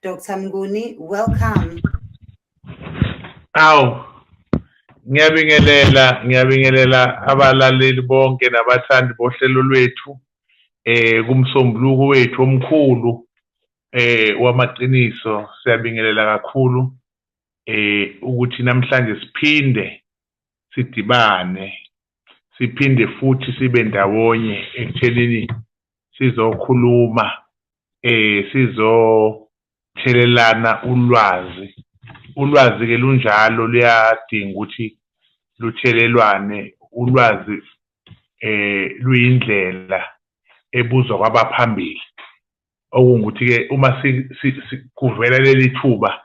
Dr. Mnguni, welcome. Awu. Ngiyabingelela, ngiyabingelela abalaleli bonke nabathandi bohlelo lwethu eh kumsombuluko wethu omkhulu eh wamaqiniso siyabingelela kakhulu eh ukuthi namhlanje siphinde sidibane siphinde futhi sibe ndawonye ekuthenini sizokhuluma eh sizothelelana ulwazi ulwazi ke lunjalo luyadinga ukuthi luthelelwane ulwazi eh luyindlela ebuzwa kwabaphambili okungukuthi ke uma kuvela leli thuba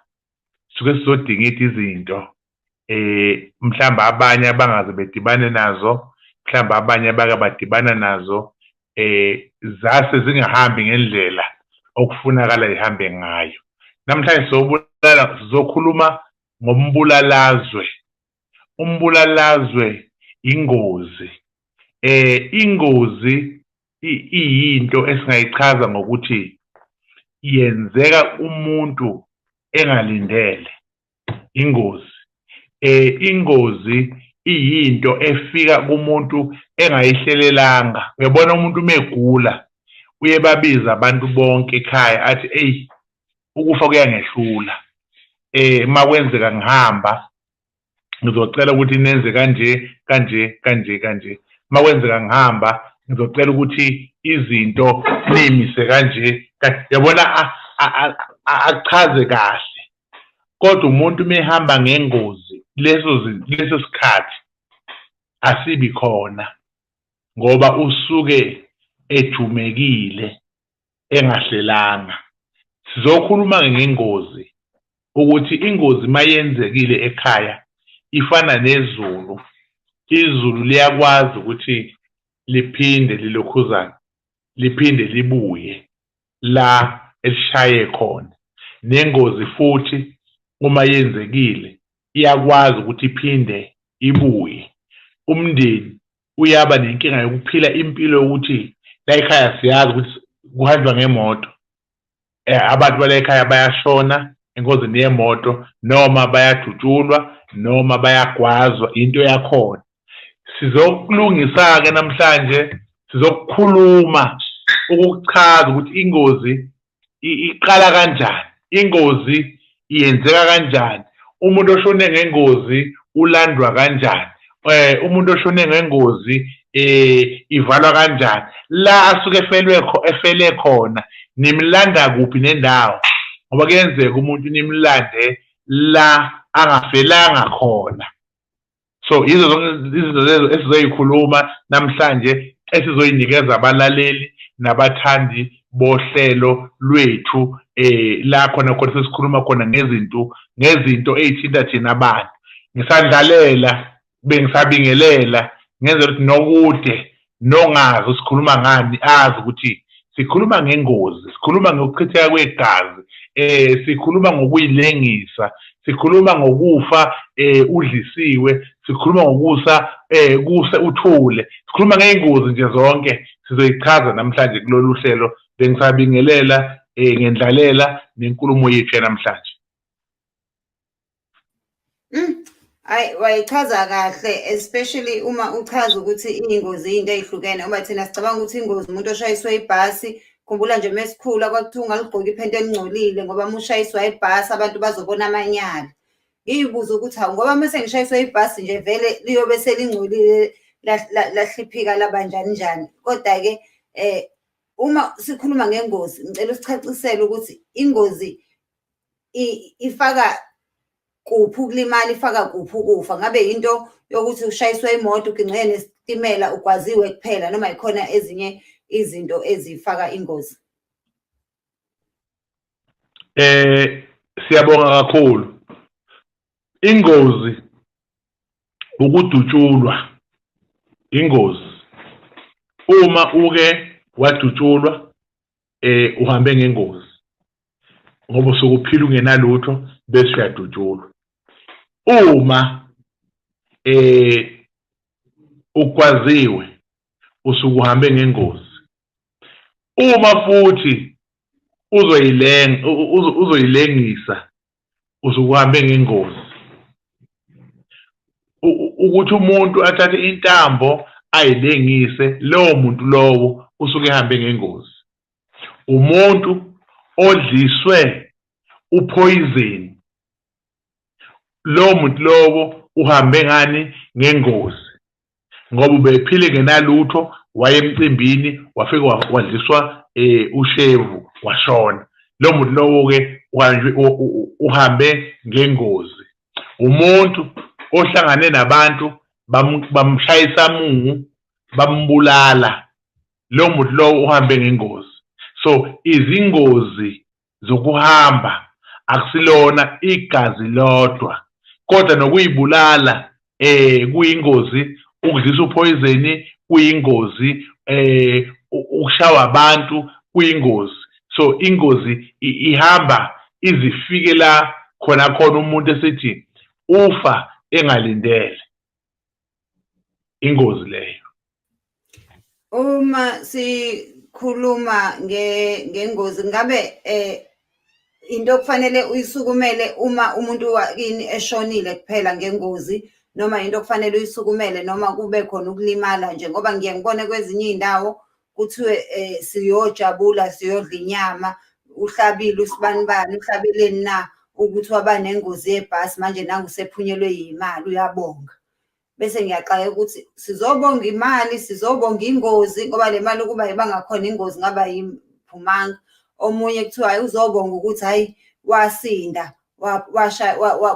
suke sizodingida izinto eh mhlamba abanye abangaze bedibane nazo mhlamba abanye abake badibana nazo eh zase zingahambi ngendlela okufunakala ihambe ngayo namhlanje sobulala sizokhuluma ngombulalazwe umbulalazwe ingozi eh ingozi iyinto esingayichaza ngokuthi yenzeka umuntu engalindele ingozi eh ingozi iyinto efika kumuntu engayihlelelanga uyabona umuntu umegula uye babiza abantu bonke ekhaya athi eyi ukufa kuyangehlula eh makwenzeka ngihamba ngizocela ukuthi nenze kanje kanje kanje kanje uma kwenzeka ngihamba ngizocela ukuthi izinto niyimise kanje yabona achaze kahle kodwa umuntu uma ehamba ngengozi leso leso sikhathi asibi khona ngoba usuke ejumekile engahlelanga sizokhuluma ngengozi ukuthi ingozi mayenzekile ekhaya ifana nezulu izulu liyakwazi ukuthi liphinde lilokhuzane liphinde libuye la elishaye khona nengozi futhi uma yenzekile iyakwazi ukuthi iphinde ibuye umndeni uyaba nenkinga yokuphila impilo yokuthi la ekhaya siyazi ukuthi kuhanjwa ngemoto eh, abantu bala ekhaya bayashona engozini yemoto noma bayadutshulwa noma bayagwazwa into yakhona sizokulungisa-ke namhlanje sizokukhuluma ukukuchaza ukuthi ingozi iqala kanjani ingozi iyenzeka kanjani umuntu oshone ngengozi ulandwa kanjani eh umuntu oshone ngengozi eh ivalwa kanjani la asuke efelwe kho efele khona nimlanda kuphi nendawo ngoba kuyenzeka umuntu nimlande la angafelanga khona so yizo zonke izinto lezo esizoyikhuluma namhlanje esizoyinikeza abalaleli nabathandi bohlelo lwethu eh la khona khona sesikhuluma khona ngezinto ngezinto ezithinta thina abantu ngisandlalela bengisabingelela ngenze ukuthi nokude nongazi usikhuluma ngani azi ukuthi sikhuluma ngengozi sikhuluma ngokuchitheka kwegazi eh sikhuluma ngokuyilengisa sikhuluma ngokufa eh udlisiwe sikhuluma ngokusa eh kuse uthule sikhuluma ngeengozi nje zonke sizoyichaza namhlanje kulolu hlelo bengisabingelela eh ngendlalela nenkulumo yethu yanamhlanje Mm. Hayi wayichaza kahle especially uma uchaza ukuthi ingozi into ezihlukene uma thina sicabanga ukuthi ingozi umuntu oshayiswe ibhasi khumbula nje mesikhula kwakuthiwa ungaligqoki iphenti elingcolile ngoba mushayiswa ibhasi abantu bazobona amanyala ngiyibuza ukuthi hawu ngoba mase ngishayiswa ibhasi nje vele liyobe selingcolile lahliphika laba njani njani kodwa ke eh uma sikhuluma ngengozi ngicela usicacisele ukuthi ingozi ifaka kuphi ukulimala ifaka kuphi ukufa ngabe yinto yokuthi ushayiswe imoto uginqike nesitimela ugwaziwe kuphela noma yikhona ezinye izinto ezifaka ingozi eh siyabonga kakhulu ingozi ukudutshulwa ingozi uma uke wadutshulwa eh uhambe ngengozi ngoba usuke uphila ungenalutho bese uyadutshulwa uma eh ukwaziwe usuke uhambe ngengozi uma futhi uzoyilenga uzoyilengisa usukuhambe ngengozi ukuthi umuntu athathe intambo ayilengise lowo muntu lowo usuke ehambe ngengozi umuntu odliswe uphoyizeni lowo muntu lowo uhambe ngani ngengozi ngoba ubephile ngenalutho waye emcimbini wafike wadliswa eh ushevu washona lo muntu lowo ke uhambe ngengozi umuntu ohlangane nabantu bamshayisa mungu bambulala lo muntu lowo uhambe ngengozi so izingozi zokuhamba akusilona igazi lodwa kodwa nokuyibulala eh kuyingozi ukudlisa uphoyizeni kuyingozi eh ukushawa abantu kuyingozi so ingozi ihamba izifike la khona khona umuntu esithi ufa engalindele ingozi leyo uma sikhuluma ngengozi ngabe eh into okufanele uyisukumele uma umuntu wakini eshonile kuphela ngengozi noma into okufanele uyisukumele noma kube khona ukulimala nje ngoba ngiye ngibone kwezinye izindawo kuthiwe um siyojabula siyodla inyama uhlabile usibanibani uhlabeleni na ukuthi waba nengozi yebhasi manje nangu sephunyelwe yimali uyabonga bese ngiyaxaka ukuthi sizobonga imali sizobonga ingozi ngoba le mali ukuba ibangakhona ingozi ngaba yiphumanga omunye kuthiwa hayi uzobonga ukuthi hhayi wasinda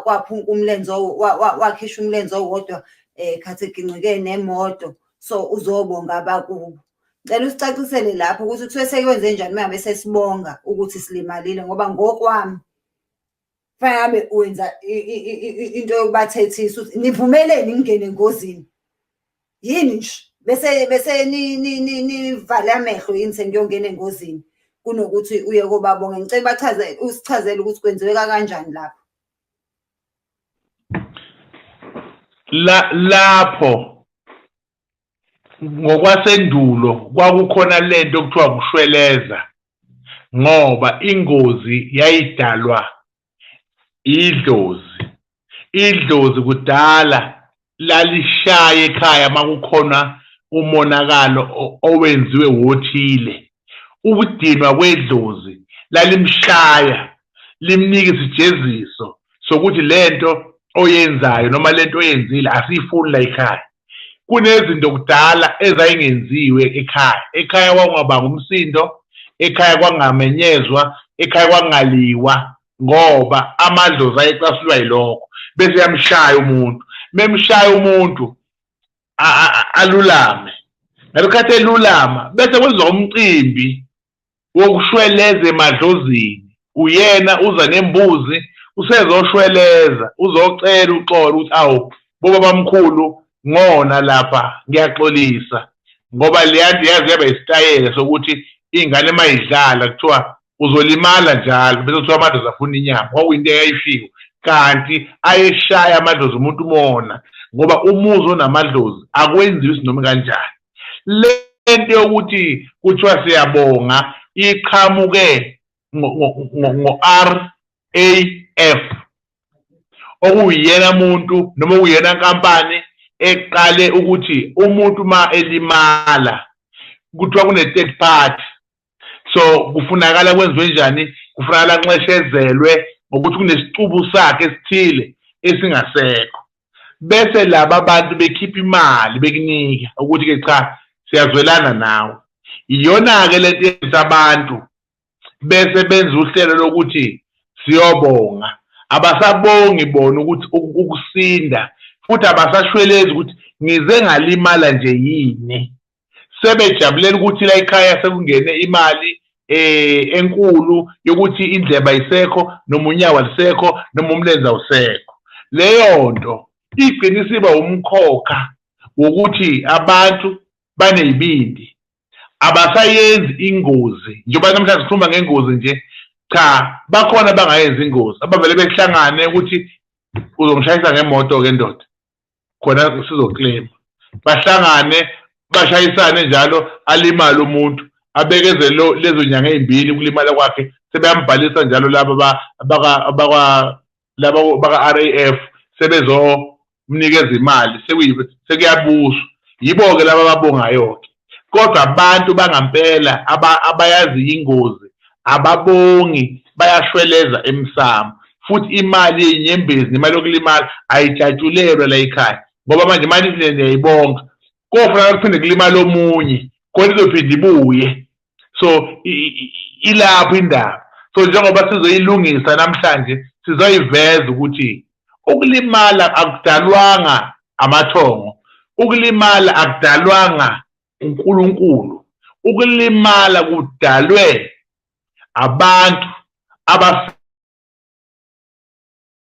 waphunka umlenze wakhisha umlenze owodwa um khathi egingqike nemoto so uzobonga abakubo ngicela usicacisele lapho ukuthi kuthiwe sekwenze njani uma ngabe sesibonga ukuthi silimalile ngoba ngokwami fangabe wenza into yokubathethisa ukuthi nivumeleni ngingene engozini yini nje bese bese nivale amehlo yini sengiyongena engozini kunokuthi uye kobabonga ngicela bachaze usichazele ukuthi kwenziweka kanjani lapho la lapho ngokwasendulo kwakukhona lento okuthiwa kushweleza ngoba ingozi yayidalwa idlozi idlozi kudala lalishaye ekhaya makukhona umonakalo owenziwe wothile ukudinwa kwedlozi lalimshaya limnika isijeziso sokuthi lento oyenzayo noma lento oyenzile asiyifuni la ekhaya kunezinto kudala ezayingenziwe ekhaya ekhaya kwakungabanga umsindo ekhaya kwangamenyezwa ekhaya kwangaliwa ngoba amadlozi ayecasulwa yilokho bese yamshaya umuntu memshaya umuntu alulame ngalokhathi elulama bese kwenziwa umcimbi wokushweleza emadlozini uyena uza nembuzi usezoshweleza uzocela uxolo ukuthi awu bobabamkhulu ngona lapha ngiyaxolisa ngoba leyanto yaze yaba isitayela sokuthi ingane uma idlala kuthiwa uzolimala njalo bese kuthiwa amadlozi afuna inyama kwakuyinto eyayishiwo kanti ayeshaya amadlozi umuntu umona ngoba umuzi onamadlozi akwenziwa isinoma kanjani le nto yokuthi kuthiwa siyabonga iqhamuke ngo-r AF okuyiyena muntu noma okuyiyena nkampani eqale ukuthi umuntu uma elimala kuthiwa kune-third party so kufunakala kwenziwe njani kufunakala nxeshezelwe ngokuthi kunesicubu sakhe esithile esingasekho bese laba bantu bekhipha imali bekunika ukuthi-ke cha siyazwelana nawe iyona-ke lento yenza abantu bese benza uhlelo lokuthi siyobonga abasabongi bona ukuthi ukusinda futhi abasashwelezi ukuthi ngize ngalimala nje yini sebejabulela ukuthi la ekhaya sekungene imali eh enkulu yokuthi indleba isekho noma unyawo lisekho noma umlenza usekho leyo nto igcina isiba umkhokha wokuthi abantu banezibindi abasayenzi ingozi njengoba namhlanje sikhuluma ngengozi nje cha bakhona abangayenzi ingozi abavele behlangane ukuthi uzongishayisa ngemoto-ke ndoda khona sizoklema bahlangane bashayisane njalo alimale umuntu abekeze lezo nyanga ey'mbili ukulimala kwakhe sebeyambhalisa njalo laba laba baka-raf sebezomnikeza imali sekuyabuswa yibo-ke laba ababongayo-ke kodwa abantu bangampela abayazi ingozi ababongi bayashweleza emsamo futhi imali yenyembezi nemali yokulimala ayijatshulelwe la ekhaya ngoba manje imali niyayibonga kofuna kuphinde kulimala omunye khona izophinde ibuye so ilapho indaba so njengoba sizoyilungisa namhlanje sizoyiveza ukuthi ukulimala akudalwanga amathongo ukulimala akudalwanga uNkulunkulu ukulimala kudalwe abantu abafike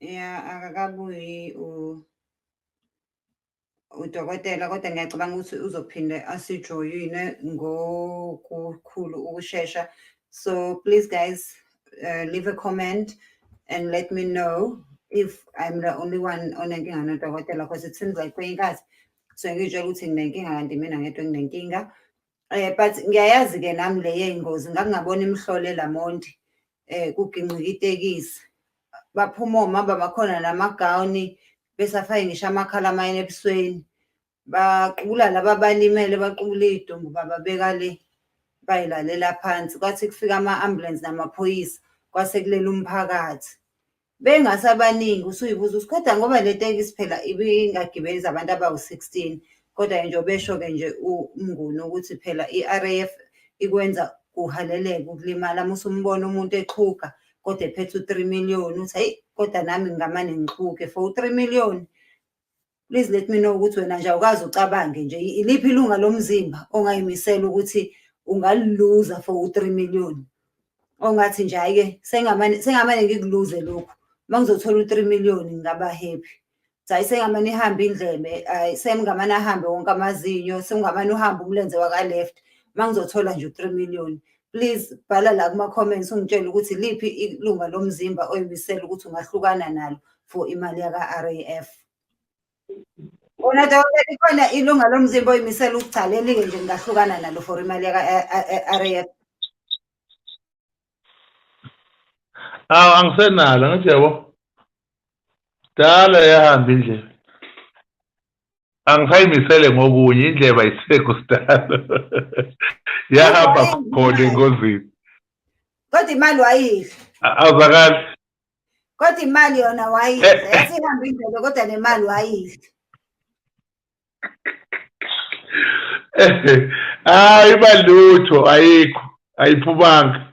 ya akakabuyi udokotela kodwa ngiyacabanga ukuthi uzophinde asijoyine ngokukhulu ukushesha so please guys uh, leave a comment and let me know if i'm the only one onenkinga nodokotela because it seems like kwenye inkathi so ngiyitshela ukuthi nginenkinga kanti mina ngedwa nginenkinga Eh but ngiyayazi ke nami le yeyingozi ngangabona imhlole lamonti eh kugingqika itekisi. Baphuma omama bakhona namagawuni besafake ngisho amakhala amayini ebusweni. Baqubula laba balimele baqubula idumbu bababeka le bayilalela phansi kwathi kufika ama ambulance namaphoyisa kwase kulela umphakathi. bengasabaningi usuyibuza ukuthi kodwa ngoba le tekisi phela ibingagibeli zabantu abawu-16 kodwa-ke nje obesho-ke nje umnguni ukuthi phela i-RAF ikwenza kuhaleleke ukulimala uma usumbona umuntu exhuga kodwa ephethe u-3 million uthi hayi kodwa nami ngingamane ngixhuge for u-3 million please let me know ukuthi wena nje awukazi ucabange nje iliphi ilunga lomzimba ongayimisela ukuthi ungaliluza for u-three million ongathi nje hhayi-ke sengamane sengamane ngikuluze lokhu uma ngizothola u-three million ngingaba happy hayi sengamane ihambe indlebe hayi semngamane ahambe wonke amazinyo semngamane uhambe umlenze waka-left uma ngizothola nje u-three million please bhala la kuma-comments ungitshele ukuthi liphi ilunga lomzimba oyimisele ukuthi ungahlukana nalo for imali yaka-raf Unataka kuona ilunga lomzimba oyimisela ukugcala elinge nje ngahlukana nalo for imali yaka RAF. Aw angisenalo ngithi yabo. Dala yahamba indlela. angisayimisele ngokunye indleba isifeko sidalo yahamba khona engozini kodwa imali wayidla awuzakali kodwa imali yona wayidla eh, eh. yasihamba indlebe kodwa nemali wayidla hayi balutho ayikho ayiphumanga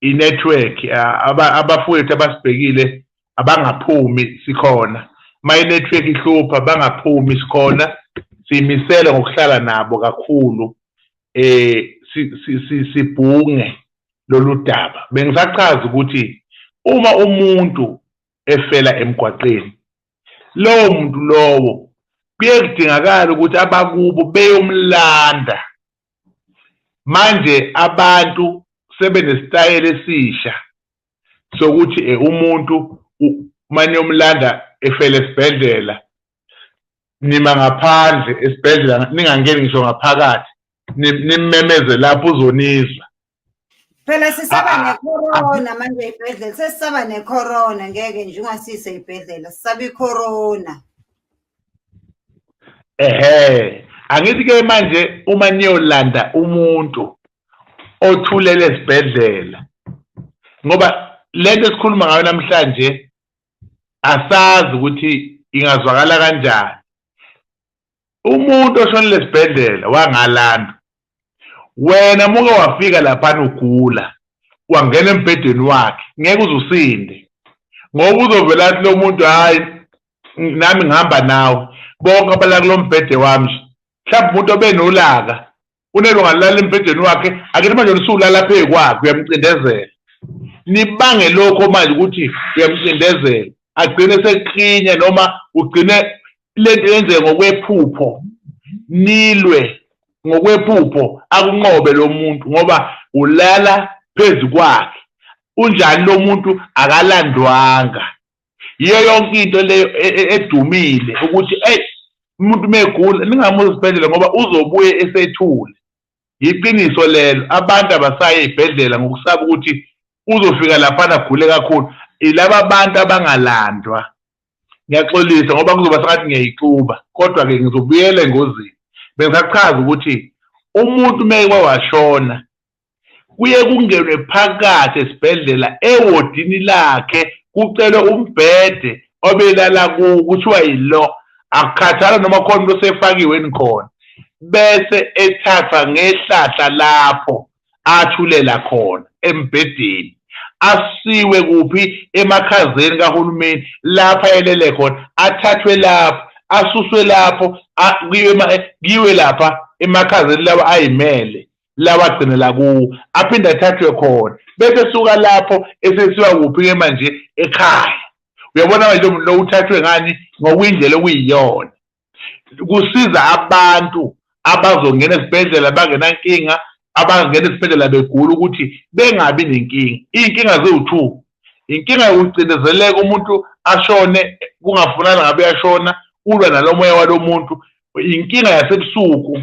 inetwork abafowethu abasibhekile abangaphumi sikhona uma inetwork ihlupha bangaphumi sikhona siyimisele ngokuhlala nabo kakhulu eh sibhunge lolu daba bengisachaza ukuthi uma umuntu efela emgwaqeni lowo muntu lowo kuye kudingakala ukuthi abakubo beyomlanda manje abantu sebenesitayela esisha sokuthi eh, umuntu manje umlanda efele esibhedlela nima ngaphandle esibhedlela ningangeni ngisho ngaphakathi nimmemeze lapho uzonizwa phela sisaba ah, ah, ah, necorona manje ey'bhedlela sesisaba necorona ngeke nje ungasise ey'bhedlela sisaba icorona ehe angithi-ke manje uma niyolanda umuntu othulele esibhedlela ngoba lento esikhuluma ngayo namhlanje asazi ukuthi ingazwakala kanjani umuntu oshonile esibhedlela wangalanda wena muke wafika laphana ugula wangena embhedeni wakhe ngeke uze usinde ngoba uzovela athi lo muntu hhayi nami ngihamba nawe bonke abala kulo mbhede wami nje mhlawumbe umuntu obenolaka unelo ngalala embhedeni wakhe akena manje lisulala phezu kwakhe uyamcindezela nibange lokho manje ukuthi uyamcindezela agcine seklinye noma ugcine lento yenzeke ngokwephupho nilwe ngokwephupho akunqobe lo muntu ngoba ulala phezu kwakhe unjani lo muntu akalandwanga yiyo yonke into leyo e, e, edumile ukuthi eyi umuntu megula ningamuzi esibhedlela ngoba uzobuye esethule yiqiniso lelo abantu abasaye ezibhedlela ngokusaba ukuthi uzofika laphana agule kakhulu ilaba bantu abangalandwa ngiyaxolisa ngoba kuzoba sengathi ngiyayixuba kodwa-ke ngizobuyela engozini bengisachaza ukuthi umuntu uma eke washona kuye kungenwe phakathi esibhedlela ewodini lakhe kucelwe umbhede obelala kuwo kuthiwa yilo akukhathala noma khona into osefakiwe nikhona bese ethathwa ngehlahla lapho athulela khona embhedeni asiwe kuphi emakhazeni kahulumeni lapha elele khona athathwe lapho asuswe lapho kiwe lapha emakhazeni lawa ayimele lawagcinela kuwo aphinde athathwe khona bese suka lapho esesiwa kuphi-ke manje ekhaya uyabona manje lo muntu lo uthathwe ngani ngokwindlela okuyiyona kusiza abantu abazongena esibhedlela bangenankinga abangena esibhedlela begula ukuthi bengabi nenkinga iy'nkinga ziwu-two inkinga yokucindezeleka umuntu ashone kungafunani ngabe uyashona ulwa nalo moya walo muntu inkinga yasebusuku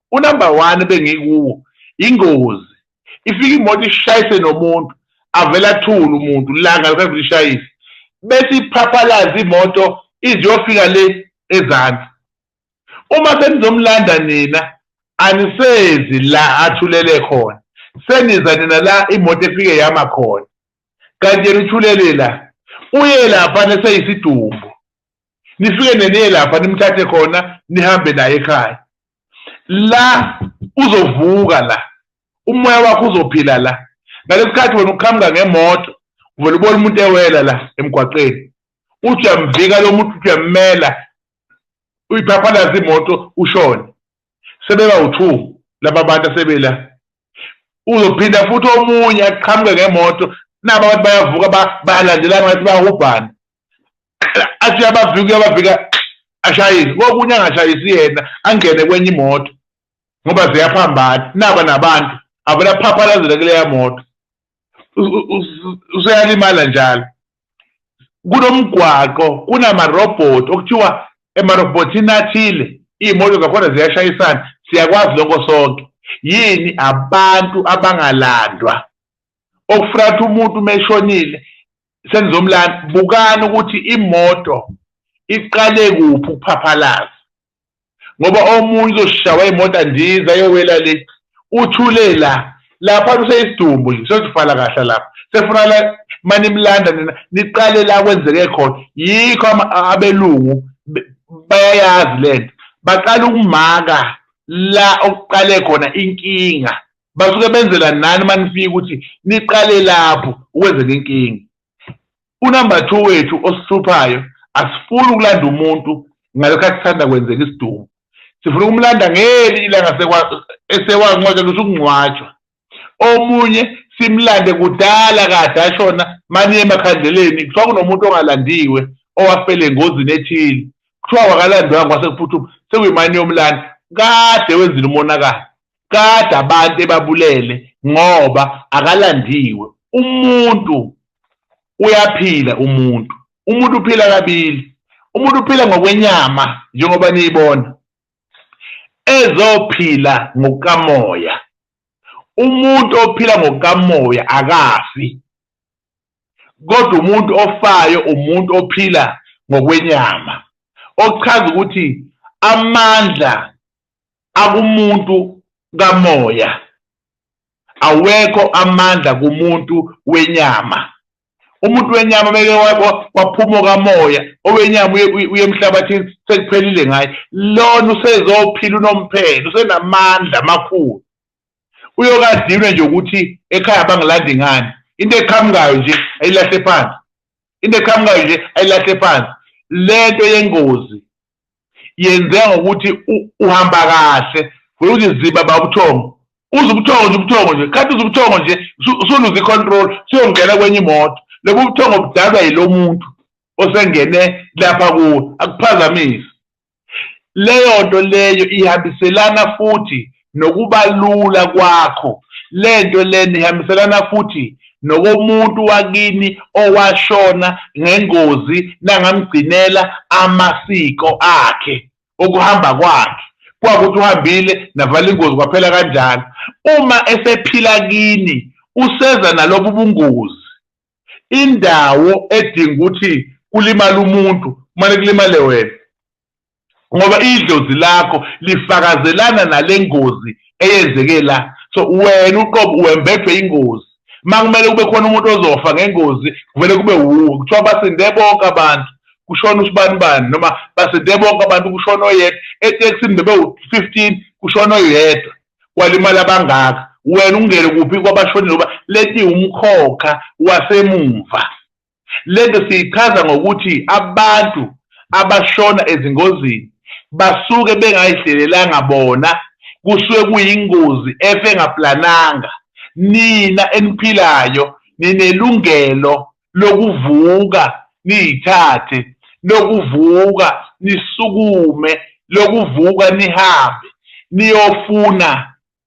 unumber one bengikuwo ingozi ifika imoto ishayise nomuntu avele athule umuntu langa lukavele ishayise bese iphaphalaza imoto iziyofika le ezansi uma senizomlanda nina anisezi la athulele khona seniza nina la imoto efike yama khona kanti yena uthulele la uye lapha neseyisidumbu nifike neniye lapha nimthathe khona nihambe naye ekhaya la uzovuka la umoya wakho uzophila la ngalesikhathi wena uqhamuka ngemoto uvele ubona umuntu ewela la emgwaqeni uthi uyamvika lo muntu uthi uyammela uyiphaphalaza imoto ushone sebeba u-two laba bantu asebela uzophinda futhi omunye aqhamuke ngemoto naba abantu bayavuka bayalandelana ngathi bayahubhana athi uyabavika uyabavika ashayise kokunye angashayisi yena angene kwenye imoto ngoba ziyaphambana naba nabantu avela phaphalazela kuleya moto useyalimala njalo kunomgwaqo kunamarobhoti okuthiwa emarobhotini athile iy'moto zakhona ziyashayisana siyakwazi lokho sonke yini abantu abangalandwa okufuna ukuthi umuntu uma eshonile senizomlanda bukani ukuthi imoto iqale kuphi ukuphaphalaza ngoba omunye uzoshawa imoto andiza yowela le uthule la lapha kuseyisidumbu nje sesifala kahle lapha sefuna la manimlanda nina niqale la kwenzeke khona yikho abelungu bayayazi lento baqala ukumaka la okuqale khona inkinga basuke benzela nani uma nifika ukuthi niqale lapho ukwenzela inkinga unumber two wethu osihluphayo asifuni ukulanda umuntu ngalokho asithanda kwenzeka isidumo sifuna ukumlanda ngeli ilanga esewancwatshelwa usukungcwatshwa omunye simlande kudala kade ashona maniye emakhandleleni kuthiwa kunomuntu ongalandiwe owafele engozini ethile kuthiwa wakalandwanga kwase kuphuthuma sekuyimani yomlanda kade wenzile umonakalo Kade abantu ebabulele ngoba akalandiwe. Umuntu uyaphila umuntu. Umuntu uphila kabili. Umuntu uphila ngokwenyama njengoba niyibona. Ezophila ngokukamoya. Umuntu ophila ngokukamoya akafi. Kodwa umuntu ofayo umuntu ophila ngokwenyama. Okuchaza ukuthi amandla akumuntu kamoya awekho amandla kumuntu wenyama umuntu wenyama beke waphuma okamoya owenyama uye emhlabathini sekuphelile ngaye lona usezophila unomphelo usenamandla amakhulu uyokadinwe nje ukuthi ekhaya bangilandi ngani into eqhamukayo nje ayilahle phansi into eqhamukayo nje ayilahle phansi lento yengozi yenzeka ngokuthi uhamba kahle vele uthi ziba babuthongo uze ubuthongo nje ubuthongo nje khathi uze ubuthongo nje usuluze i-control suyongena kwenye imoto lobu ubuthongo budalwa yilo muntu osengene lapha kuwo akuphazamise leyo nto leyo ihambiselana futhi nokubalula kwakho. Le nto lena ihambiselana futhi nokomuntu wakini owashona ngengozi nangamgcinela amasiko akhe okuhamba kwakhe kwakuthi uhambile navala ingozi kwaphela kanjalo uma esephila kini useza nalobu bungozi indawo edinga ukuthi kulimala umuntu kumane kulimale wena ngoba idlozi lakho lifakazelana nale ngozi eyenzeke la so wena uqobo wembethwe ingozi uma kumele kube khona umuntu ozofa ngengozi kuvele kube wuwe kuthiwa basinde bonke abantu kushona usibani bani noma basinde bonke abantu kushona oyedwa etekisini bebewu-fifteen kushona oyedwa kwalimali abangaka wena ungene kuphi kwabashonile ngoba leti umkhokha wasemumva Le nto siyichaza ngokuthi abantu abashona ezingozini basuke bengayihlelelanga bona, kusuke kuyingozi efe engaplananga. Nina eniphilayo ninelungelo lokuvuka niyithathe, lokuvuka nisukume, lokuvuka nihambe niyofuna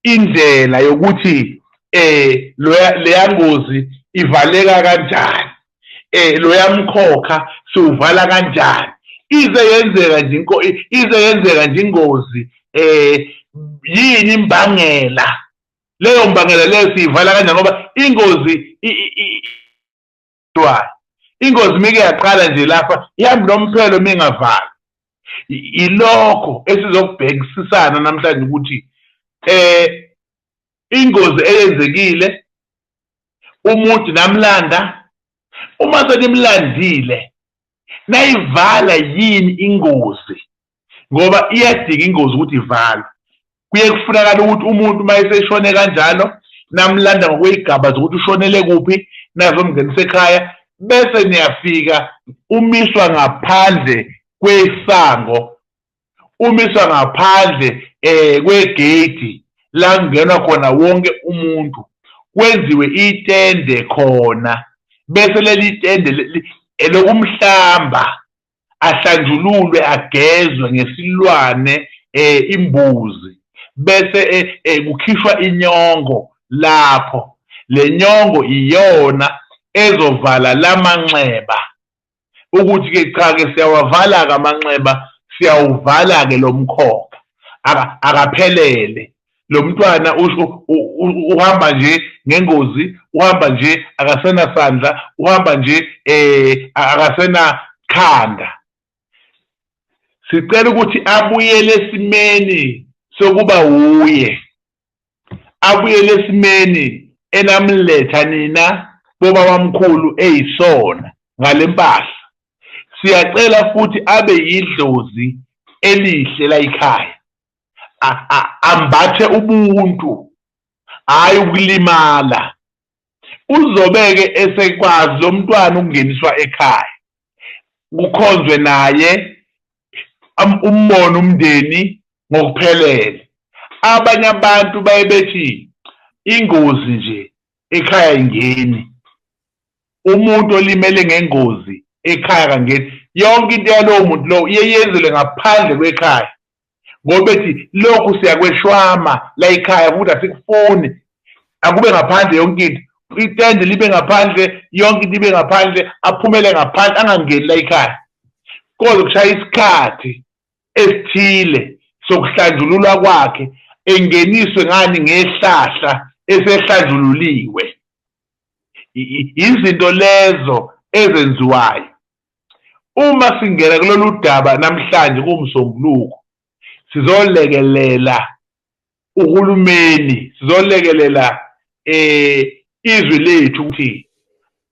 indlela yokuthi eh leya ngozi ivaleka kanjani eh loya mkhokha siwuvala kanjani ize yenzeka nje inko ize yenzeka nje ingozi eh yini imbangela leyo mbangela leyo siyivala kanjani ngoba ingozi kuthiwani ingozi mike yaqala nje lapha ihambi nomphelo mingavala ilokho esizokubhekisisana namhlanje ukuthi eh ingozi eyenzekile umuntu namlanda uma senimlandile nayivala yini ingozi ngoba iyadinga ingozi ukuthi ivalwe kuye kufunakala ukuthi umuntu uma eseshone kanjalo namlanda ngokweyigaba zokuthi ushonele kuphi nazomngenisa ekhaya bese niyafika umiswa ngaphandle kwesango umiswa ngaphandle eh kwegate la kungenwa khona wonke umuntu kwenziwe itende khona bese leli tende elokumhlamba ahlanjululwe agezwe ngesilwane eh imbuzi bese eh, eh, kukhishwa inyongo lapho lenyongo iyona ezovala lamanxeba ukuthi ke cha ke siyawavala ke amanxeba siyawuvala ke lomkhokha akaphelele lo mntwana usho uhamba nje ngengozi uhamba nje akasena sandla uhamba nje eh akasena khanda sicela ukuthi abuyele esimeni sokuba wuye abuyele esimeni enamletha nina boba bamkhulu eyisona ngalempahla siyacela futhi abe yidlozi elihle layikhaya ambathe ubuntu hhayi ukulimala uzobeke esekwazi lo mntwana ukungeniswa ekhaya kukhonzwe naye umbone umndeni ngokuphelele abanye abantu baye bethi ingozi nje ekhaya ingeni umuntu olimele ngengozi ekhaya kangeni yonke into yalowo muntu lowo iye yenzelwe ngaphandle kwekhaya ngoba bethi lokhu siyakweshwama la ekhaya ukuthi asikufuni akube ngaphandle yonke into itende libe ngaphandle yonke into ibe ngaphandle aphumele ngaphandle angangeni la ekhaya kodwa kushaya isikhathi esithile sokuhlanjululwa kwakhe engeniswe ngani ngehlahla esehlanjululiwe izinto lezo ezenziwayo Uma singena kulolu daba namhlanje kuwuMsombuluko, sizolekelela uhulumeni, sizolekelela um izwe lethu ukuthi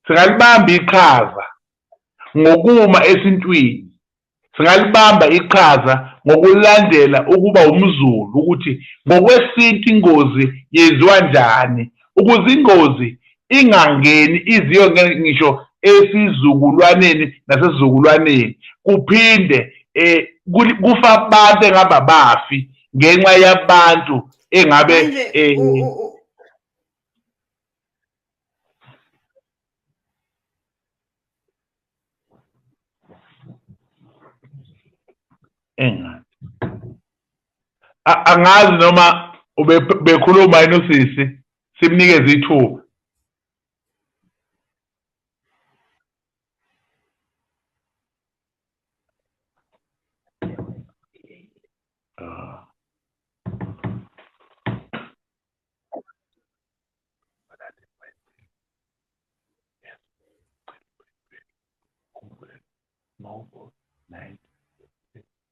singalibamba iqhaza ngokuma esintwini singalibamba iqhaza ngokulandela ukuba umZulu ukuthi ngokwesintu ingozi yenziwa njani ukuze ingozi ingangeni iziyongena ngisho esizukulwaneni nasesizukulwaneni kuphinde eh kufa abantu engaba bafi ngenxa yabantu engabe eh engathi angazi noma bekhuluma yini usisi simnikeze ithuba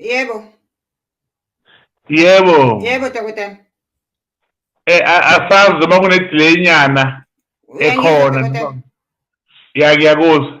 Yebo. Yebo. Yebo dokotela. Eh asazi uma kune delay nyana ekhona. Ya ngiyakuzwa.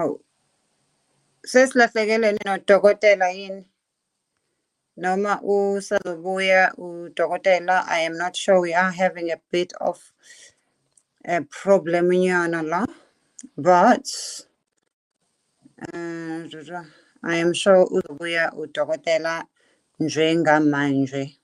Awu. Sesilahlekelwe nodokotela yini? Noma usazobuya udokotela I am not sure we are having a bit of a problem nyana la but Mm, Jojo, I am sure uzobuya udokotela njengamanje.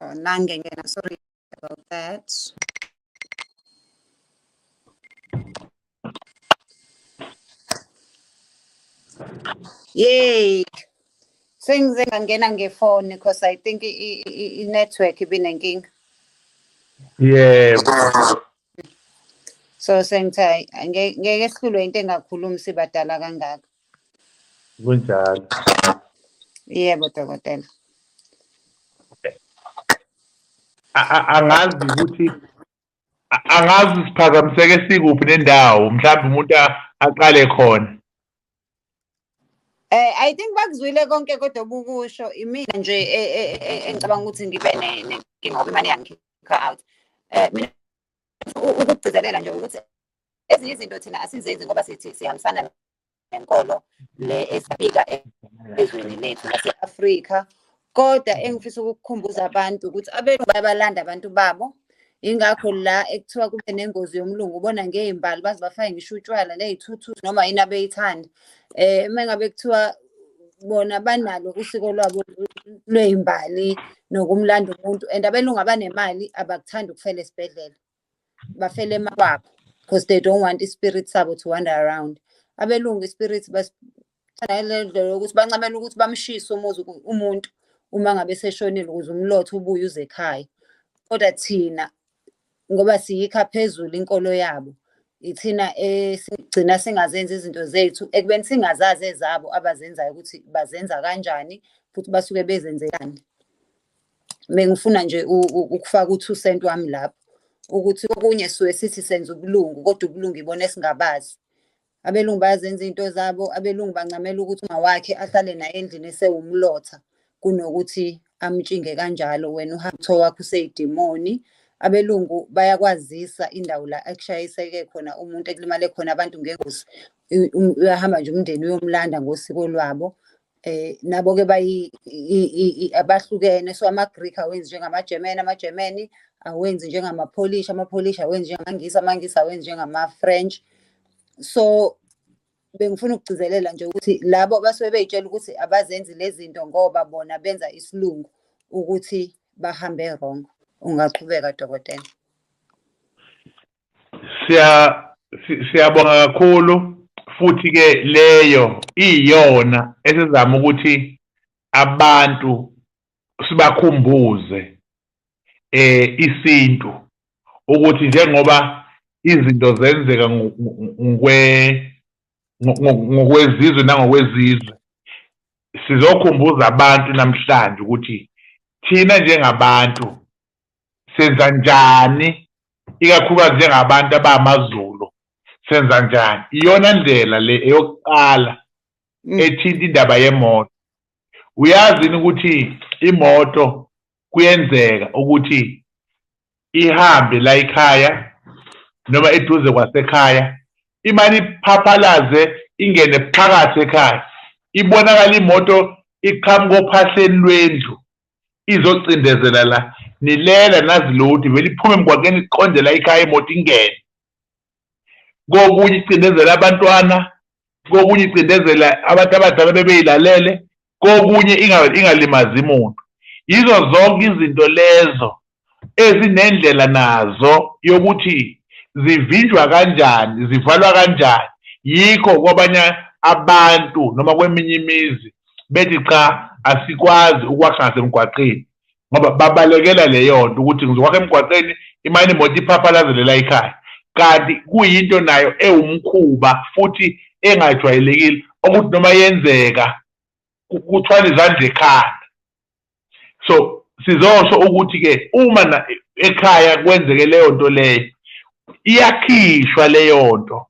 Oh, Nangengena, sorry about that. Yay. Sengize ngangena ngefoni because I think i-network ibinenkinga. Yebo. so sengithe ngeke sihlulwe into engakhulumi sibadala kangaka kunjalo yebo dokotela angazi ukuthi angazi siphazamiseke sikuphi nendawo mhlawumbe umuntu aqale khona Eh I think bakuzwile konke kodwa obukusho imina nje e, e, e, engicabanga ukuthi ngibe nenkinga ngoba imali yangikhipha out. Eh mina ukugcizelela nje ukuthi ezinye izinto thina asizenzi ngoba sithi sihambisana nenkolo le esifika ezweni lethu lase-Afrika kodwa engifisa ukukukhumbuza abantu ukuthi abenu bayabalanda abantu babo ingakho la ekuthiwa kube nengozi yomlungu ubona ngey'mbali baze bafake ngisho utshwala ney'thuthuthi noma yini abeyithanda um eh, uma ngabe kuthiwa bona banalo usiko lwabo lwey'mbali nokumlanda umuntu and abelungu abanemali abakuthandi ukufela esibhedlela bafele emakwakho because they don't want ispirit sabo to wander around abelungu ispirit basanalendlela ukuthi bancamela ukuthi bamshise umuzi umuntu uma ngabe seshonile ukuze umlotho ubuye uze ekhaya kodwa thina ngoba siyikha phezulu inkolo yabo ithina esigcina singazenzi izinto zethu ekubeni singazazi ezabo abazenzayo ukuthi bazenza kanjani futhi basuke bezenzelani bengifuna nje ukufaka u-two cent wami lapho ukuthi okunye suke sithi senza ubulungu kodwa ubulungu ibona esingabazi abelungu bayazenza iy'nto zabo abelungu bancamela ukuthi uma wakhe ahlale naye endlini esewumlotha kunokuthi amtshinge kanjalo wena uhambe kuthiwa wakho useyidimoni abelungu bayakwazisa indawo la ekushayiseke khona umuntu ekulimale khona abantu ngengozi uyahamba nje umndeni uyomlanda ngosiko lwabo eh nabo ke bayi abahlukene so amaGreek awenzi njengamaGerman amaGermany awenzi njengamaPolish amaPolish awenzi njengamaNgisi amaNgisi awenzi njengamaFrench so bengifuna ukugcizelela nje ukuthi labo abasuke beyitshela ukuthi abazenzi lezinto ngoba bona benza isilungu ukuthi bahambe wrong ungaqhubeka dokotela siya siyabonga kakhulu futhi ke leyo iyona esizama ukuthi abantu sibakhumbuze eh isintu ukuthi njengoba izinto zenzeka ngokwe ngokwezizwe nangokwezizwe sizokhumbuza abantu namhlanje ukuthi thina njengabantu senza njani ikakhulukazi njengabantu abamaZulu senza njani iyona ndlela le eyokuqala mm. ethinta indaba yemoto uyazi ukuthi imoto kuyenzeka ukuthi ihambe la ikhaya noma eduze kwasekhaya imane iphaphalaze ingene phakathi ekhaya ibonakala imoto iqhamuka ophahleni lwendlu izocindezela la nilele nazi lodi vele iphume emgwaqeni iqonde la ikhaya imoto ingene kokunye icindezela abantwana kokunye icindezela abantu abadala bebeyilalele kokunye ingalimazi muntu yizo zonke izinto lezo ezinendlela nazo yokuthi zivinjwa kanjani zivalwa kanjani yikho kwabanye abantu noma kweminye imizi bethi cha asikwazi ukwakha ngasemgwaqeni ngoba babalekela leyo nto ukuthi ngizokwakha emgwaqeni imane imoto iphaphalazelela ikhaya kanti kuyinto nayo ewumkhuba futhi engajwayelekile okuthi noma yenzeka kuthwala izandla ekhanda so sizosho ukuthi ke uma ekhaya kwenzeke leyo nto leyo iyakhishwa leyo nto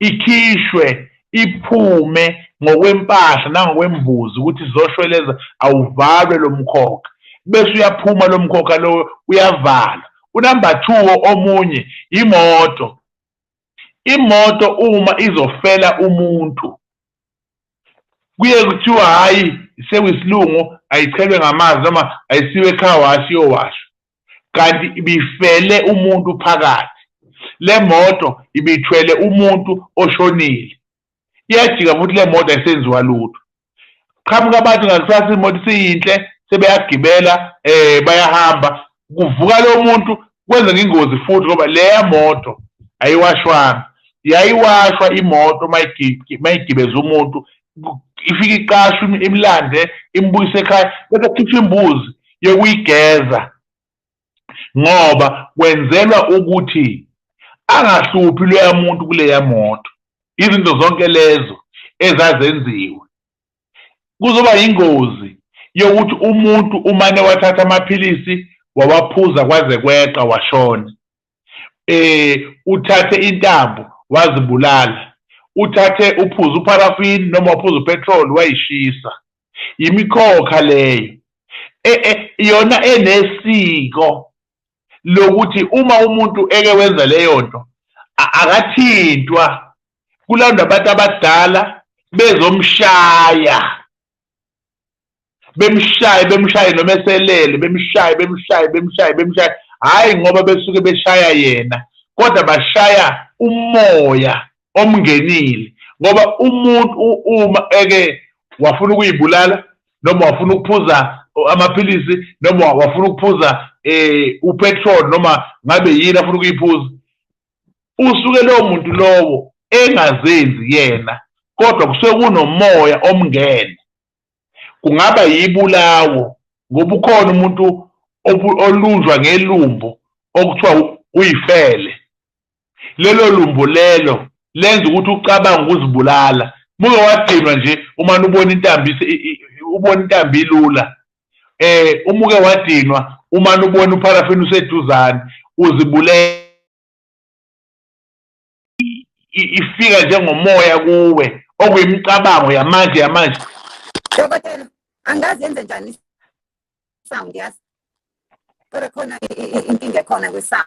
ikhishwe iphume ngokwempahla nangokwembuzi ukuthi sizoshweleza awuvalwe lo mkhokha bese uyaphuma lo mkhokha lowo uyavala unumber two omunye imoto imoto uma izofela umuntu kuye kuthiwa hhayi sewisilungu ayichelwe ngamanzi noma ayisiwe ekhaya washi yowasha kanti ibifele umuntu phakathi le moto ibithwele umuntu oshonile iyajika futhi le moto ayisenziwa lutho qhamuka abantu ngakusasa imoto isiyinhle sebeyagibela um bayahamba kuvuka lo muntu kwenzeka ingozi futhi ngoba leya moto ayiwashwanga yayiwashwa imoto mayigibeza umuntu ifike iqashwe imlande imbuyise ekhaya bese khipha imbuzi yokuyigeza ngoba kwenzelwa ukuthi angahluphi loya muntu kuleya moto izinto zonke lezo ezazenziwe kuzoba yingozi yokuthi umuntu umane wathatha amaphilisi wawaphuza kwaze kweqa washona eh uthathe intambo wazibulala uthathe uphuza upharafini noma uphuza upetrol wayishisa yimikhokha leyo e, e, yona enesiko lokuthi uma umuntu eke wenza leyo nto akathintwa kulandwa abantu abadala bezomshaya bemshaye bemshaye noma eselele bemshaye bemshaye bemshaye bemshaye hhayi ngoba besuke beshaya yena kodwa bashaya umoya omngenile ngoba umuntu uma eke wafuna ukuyibulala noma wafuna ukuphuza amaphilisi noma wafuna ukuphuza eh upetrol noma ngabe yini afuna ukuyiphuza usuke lowo muntu lowo engazenzi yena kodwa kusuke kunomoya omngene kungaba yibulawo ngoba ukhona umuntu olunjwa ngelumbo okuthiwa uyifele lelo lumbo lelo lenza ukuthi ucabange ukuzibulala muke wadinwa nje uma ubona intambi ubona intambi ilula eh umuke wadinwa uma ubona upharafini useduzane uzibulela ifika njengomoya kuwe okuyimicabango yamanje yamanje dokotela angazi yenze njani sound yazi kodwa khona inkinga ekhona kwisound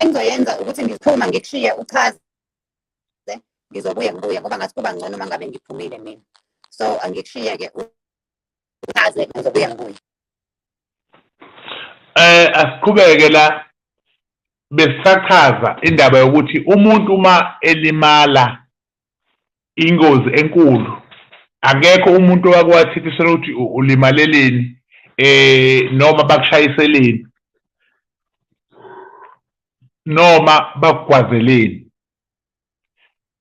engizoyenza ukuthi ngiphuma ngikushiye uchaze ngizobuye ngibuye ngoba ngathi kuba ngcono uma ngabe ngiphumile mina so angikushiye-ke uchaze ngizobuye ngibuye eh asiqhubeke la besisachaza indaba yokuthi umuntu uma elimala ingozi enkulu akekho umuntu owakwathikisela ukuthi ulimaleleni eh noma bakushayiseleni noma bakugwazeleni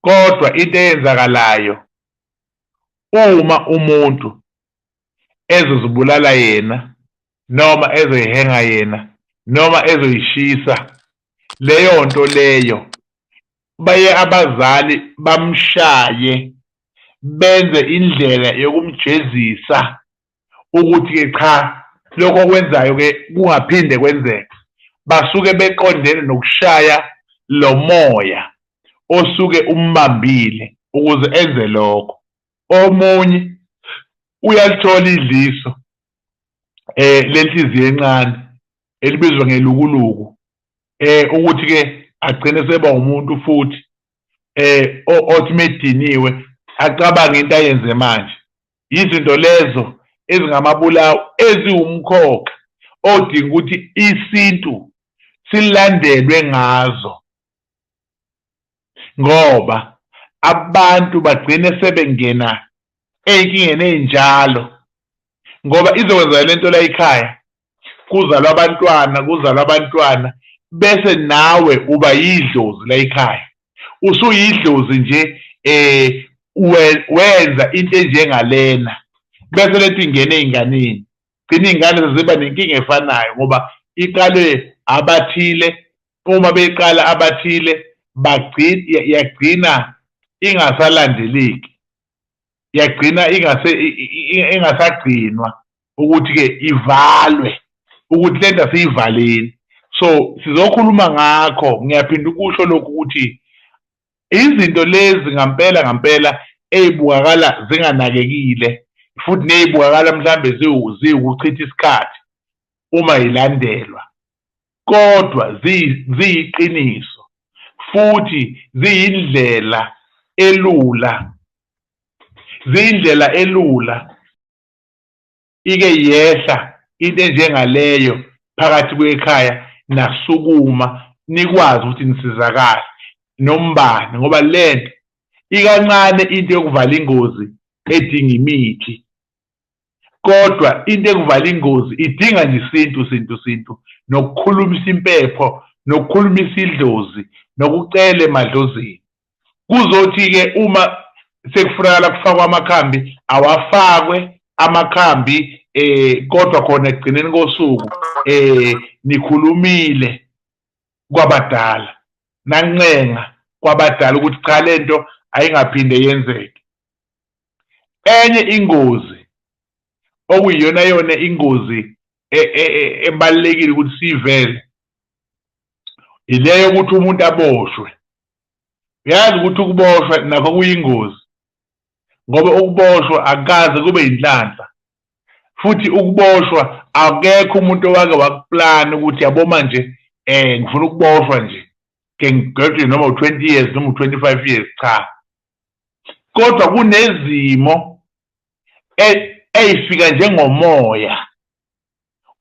kodwa into eyenzakalayo uma umuntu ezozibulala yena noma ezoyihenga yena noma ezoyishisa leyo nto leyo baye abazali bamshaye benze indlela yokumjezisa ukuthi ke cha lokho okwenzayo ke kungaphinde kwenzeke basuke beqondene nokushaya lo moya osuke umbambile ukuze enze lokho omunye uyalithola idliso eh lenhliziyo encane elibizwa ngelukuluku eh ukuthi ke agcine seba umuntu futhi eh othi mediniwe acabange into ayenze manje yizinto lezo ezingamabulawo eziwumkhokha odinga ukuthi isintu silandelwe ngazo ngoba abantu bagcine sebengena ey'nkingeni ey'njalo ngoba izokwenzeka le nto la ekhaya kuzalwa abantwana kuzalwa abantwana bese nawe uba yidlozi la ekhaya usuyidlozi nje eh wenza into enjengalena bese lethi ingene ey'nganeni gcina iy'ngane seziba nenkinga efanayo ngoba iqalwe abathile uma beqala abathile bagcina yagcina ingasalandeleki yagcina ingase ingasagcinwa ukuthi ke ivalwe ukuthi lento asiyivaleni so sizokhuluma ngakho ngiyaphinda ukusho lokhu ukuthi izinto lezi ngampela ngampela eyibukakala zinganakekile futhi neyibukakala mhlambe ziwukuchitha isikhathi uma ilandelwa kodwa ziyiqiniso futhi ziyindlela elula ziyindlela elula ike yehla into enjengaleyo phakathi kwekhaya nasukuma nikwazi ukuthi nisizakale nombani ngoba lento ikancane into yokuvala ingozi edinga imithi kodwa into ekuvala ingozi idinga nje isintu sintu sintu nokukhulumisa impepho nokukhulumisa idlozi nokucele emadlozini kuzothi-ke uma sekufunakala kufakwa amakhambi awafakwe amakhambi eh kodwa khona ekugcineni kosuku eh nikhulumile kwabadala nancenga kwabadala ukuthi cha lento ayingaphinde yenzeke enye ingozi okuyiyona yona ingozi e, e, e, ebalekile ukuthi sivele ileyo ukuthi umuntu aboshwe uyazi ukuthi ukuboshwa nakho kuyingozi ngoba ukuboshwa akukaze kube yinhlanhla futhi ukuboshwa akekho umuntu owake wakuplana ukuthi yabo manje eh ngifuna ukuboshwa nje ke ngidwetshwe noma u20 years noma u25 years cha kodwa kunezimo e, eyifika njengomoya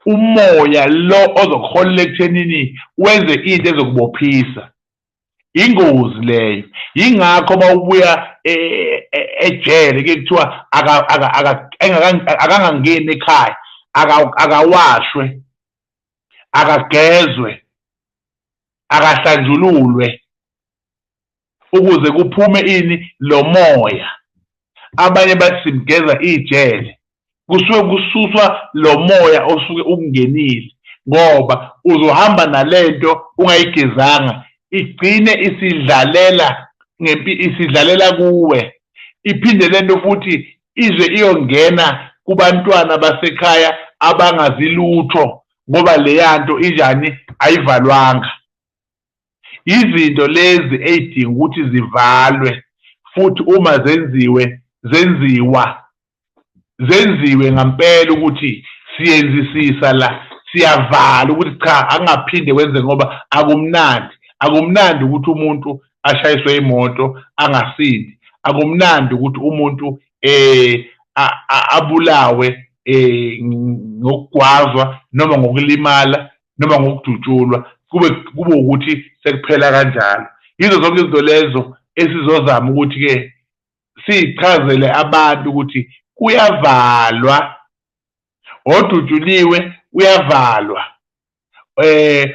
umoya lo ozokuholela ekuthenini wenze into ezokubophisa ingozi leyo yingakho uma ubuya e, e, ejele ke kuthiwa akangangeni ekhaya akawashwe akagezwe akahlanjululwe ukuze kuphume ini lo moya abanye bathi simgeza ijele kusuke kususwa lo moya osuke ukungenile ngoba uzohamba nalento ungayigezanga igcine isidlalela ngempi isidlalela kuwe iphinde lento futhi ize iyongena kubantwana basekhaya abangazi lutho ngoba leya nto injani ayivalwanga izinto lezi ey'dinga ukuthi zivalwe futhi uma zenziwe zenziwa zenziwe ngampela ukuthi siyenzisisa la siyavala ukuthi cha angaphinde kwenze ngoba akumnandi akumnandi ukuthi umuntu ashayiswe imoto angasindi akumnandi ukuthi umuntu eh abulawe eh ngokugwazwa noma ngokulimala noma ngokudutshulwa kube kube ukuthi sekuphela kanjalo yizo zonke izinto lezo esizozama ukuthi-ke sichazele abantu ukuthi kuyavalwa odutshuliwe uyavalwa eh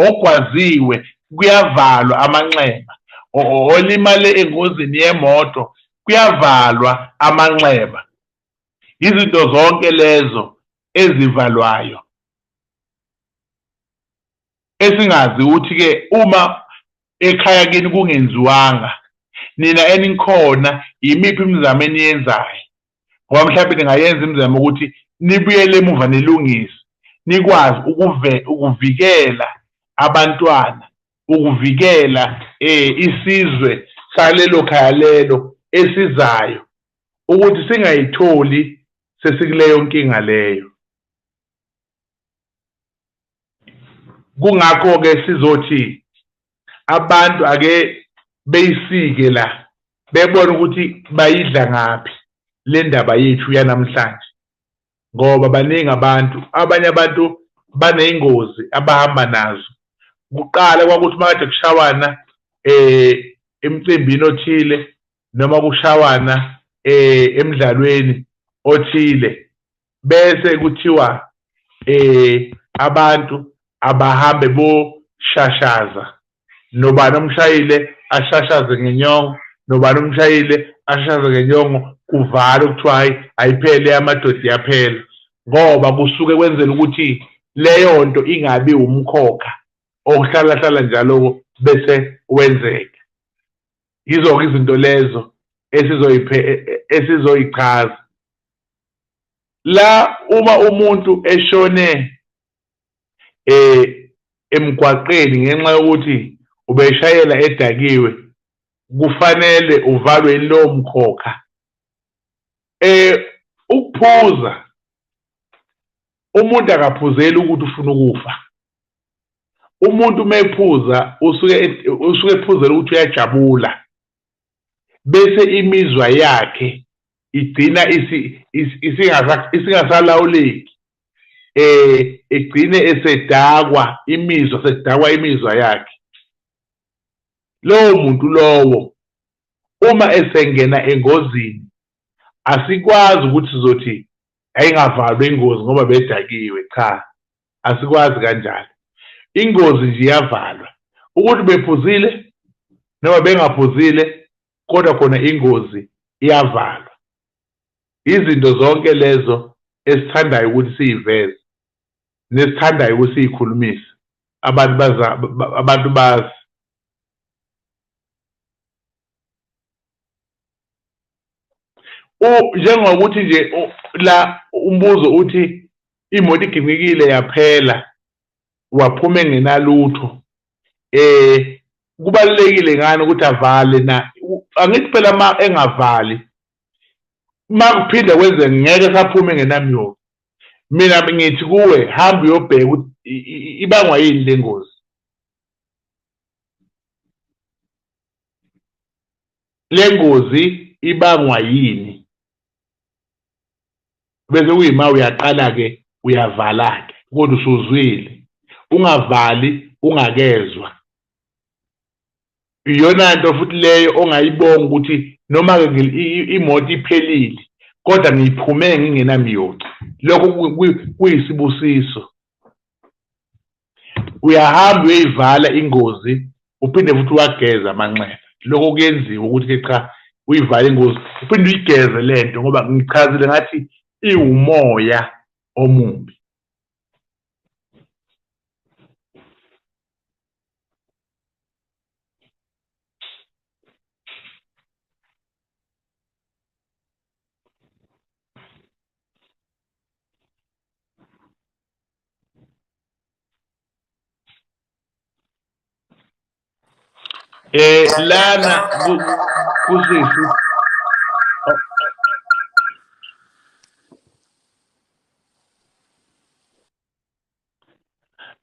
ogwaziwe kuyavalwa amanxeba olimale engozini yemoto kuyavalwa amanxeba izinto zonke lezo ezivalwayo esingazi ukuthi ke uma ekhaya kini kungenziwanga nina enikhona yimiphi imizamo eniyenzayo ngoba mhlawumbe ningayenza imizamo ukuthi nibuyele emuva nilungise nikwazi ukuve ukuvikela abantwana ukuvikela eh isizwe salelo khaya lelo esizayo ukuthi singayitholi sesikuleyo nkinga leyo kungakho ke sizothi abantu ake beyisike la bebona ukuthi bayidla ngaphi le ndaba yethu yanamhlanje ngoba baningi abantu abanye abantu baney'ngozi abahamba nazo kuqala kwakuthi makade kushawana um emcimbini othile noma kushawana eh emidlalweni othile bese kuthiwa eh abantu abahambe boshashaza nobani omshayile ashashaze ngenyongo nobani omshayile ashashaze ngenyongo kuvala kuthiwa hayi ayiphele amadoda iyaphela ngoba kusuke kwenzela ukuthi leyo nto ingabi umkhokha okuhlalahlala njalo bese wenzeka yizo-ke izinto lezo esizoyiphe e, e, esizoyichaza la uma umuntu eshone eh emgwaqeni ngenxa yokuthi ubeshayela edakiwe kufanele uvalwe lowo mkhokha eh ukuphuza umuntu akaphuzeli ukuthi ufuna ukufa umuntu uma ephuza usuke usuke ephuzela ukuthi uyajabula bese imizwa yakhe igcina isingasalawuleki eh egcine esedakwa imizwa sedakwa imizwa yakhe lowo muntu lowo uma esengena engozini asikwazi ukuthi sizothi ayingavalwa ingozi ngoba bedakiwe cha asikwazi kanjalo ingozi nje iyavalwa ukuthi bephuzile noma bengaphuzile kodwa khona ingozi iyavalwa izinto zonke lezo esithandayo ukuthi siyiveze nesithandayo ukuthi siyikhulumise abantu baza abantu bazi njengokuthi nje la umbuzo uthi imoto iginyikile yaphela waphuma engenalutho eh kubalekile ngani ukuthi avale na angithi phela ma engavali ma kuphinde kwenze ngeke saphume ngenamyoyo mina ngithi kuwe hamba uyobheka ukuthi ibangwa yini le ngozi le ngozi ibangwa yini bese kuyima uyaqala ke uyavala ke kodwa usuzwile ungavali ungakezwa iyona nto futhi leyo ongayibonga ukuthi noma ke imoto iphelile kodwa ngiyiphume ngingenamiyoca lokho kuyisibusiso uyahamba uyoyivala ingozi uphinde futhi uwageze amanxeba lokho kuyenziwa ukuthi ke cha uyivale ingozi uphinde uyigeze le nto ngoba ngichazile ngathi iwumoya omubi Eh lana kusisi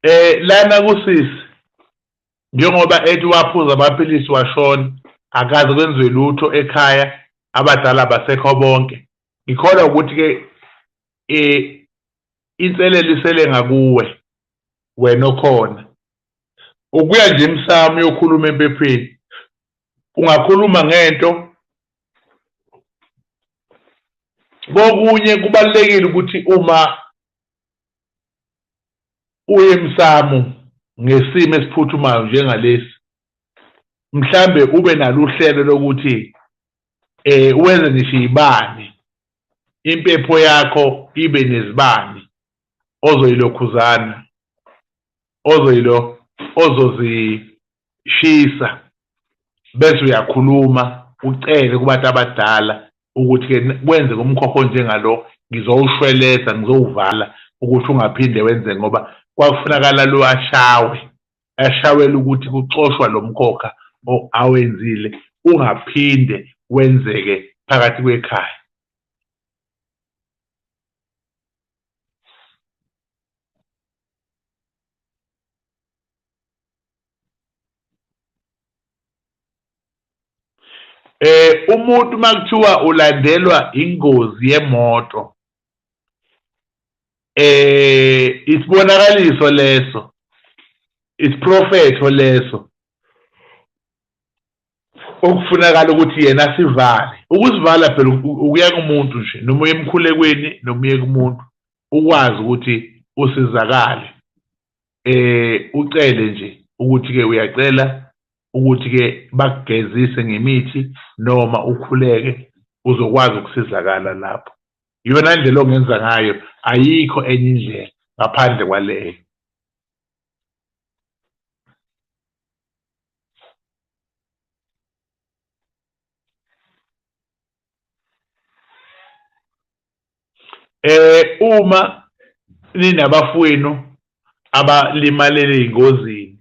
Eh lana kusisi njengoba ethi waphuza amaphilisi washona akaze kwenziwe lutho ekhaya abadala basekho bonke ngikholwa ukuthi ke eh Insele lisele ngakuwe wena okhona. Ukuya nje emsamo uyokhuluma empepheni. Ungakhuluma ngento kokunye kubalulekile ukuthi uma uye emsamo ngesimo esiphuthumayo njengalesi mhlambe ube nalo uhlelo lokuthi eh wenze ngisho ibani impepho yakho ibe nezibani ozoyilokhuzana ozoyilo ozozishisa bese uyakhuluma ucele kubantu abadala ukuthi ke kwenze kumkhokho njengalo ngizowushweleza ngizowuvala ukuthi ungaphinde wenze ngoba kwakufunakala lo ashawe ashawela ukuthi kuxoshwa lo mkhokha awenzile ungaphinde wenzeke phakathi kwekhaya eh umuntu makuthiwa ulandelwa ingozi yemoto eh isibonakaliso leso isiprofetho leso okufunakala ukuthi yena sivale ukuzivala phela ukuya kumuntu nje noma uye emkhulekweni noma uye kumuntu ukwazi ukuthi usizakale eh ucele nje ukuthi ke uyacela ukuthi ke bakugezise ngemithi noma ukhuleke uzokwazi ukusizakala lapho iyona ndlela ongenza ngayo ayikho enye indlela ngaphandle kwaleyo eh uma ninabafowenu abalimalele ingozini